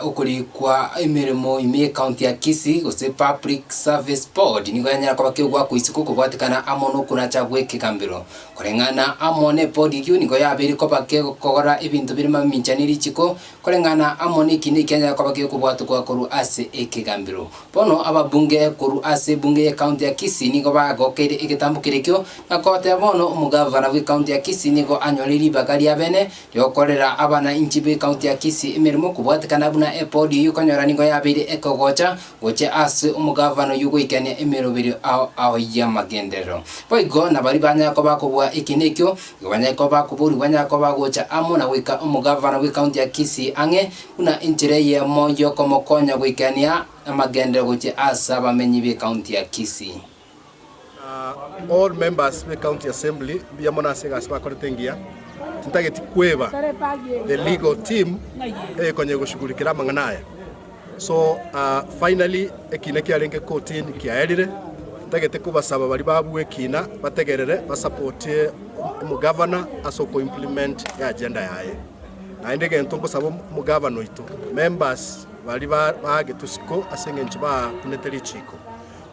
okorikwa emeremo ime y'Ecounty ya Kisii gose Public Service Board nigo yanyara koba kegwa akoisiko okobwatekana amo nokoracha gw'ekegambero. Koreng'ana amo n'ebodi eyio nigo yabeire koba kegokora ebinto bire mamincha ne richiko koreng'ana amo nekina ekianyara koba kegokobwatokwa korwa ase ekegambero. Bono ababunge korwa ase ebunge y'Ecounty ya Kisii nigo bagokeire egetambo kere ekio na koteba bono omogavana bw'ecounty ya Kisii nigo anyore ribaga riabene, Yokorera abana inchi be county ya Kisii emeremo kobwatekana buna epodi eyio konyora nigo yabeire ekegocha gochia ase omogavana oyio goikania emeroberio ao ao y'amagenderero. Boigo nabari banyare koba kobua eki nekio, igo banyare koba bakoborwi banyare koba bagocha amo na goika omogavana bwe county ya Kisii ang'e buna enchera eyemo y'okomokonya goikania amagenderero gochia ase abamenyi be county ya Kisii. All members be county assembly mbuya mono ase egasi bakorete engiya tintageti kweba the legal team eyekonye goshugulikera amang'ana aya so finally ekina kiarenge kotini kiaerire tintagete kobasaba bari babue ekina bategerere basapotie omogavana ase oko implement agenda yaye naende gento nkosaba omogavana oito members bari bagetu siko ase eng'encho bakunete richiko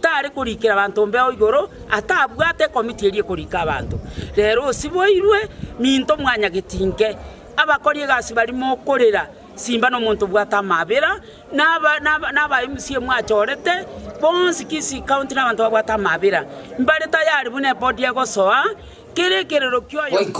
Tare korikera abanto ombeo igoro, atabwate ekomiti eria ekorika abanto. Rero osiboirwe minto mwanyageti inke, abakori egasi bari mokorera simba nomonto obwate amaabera, na aba MCA mwachorete bonsi Kisii County nabanto babwate amaabera, mbare tayari buna ebodi egosoa kera ekerero kioyomo.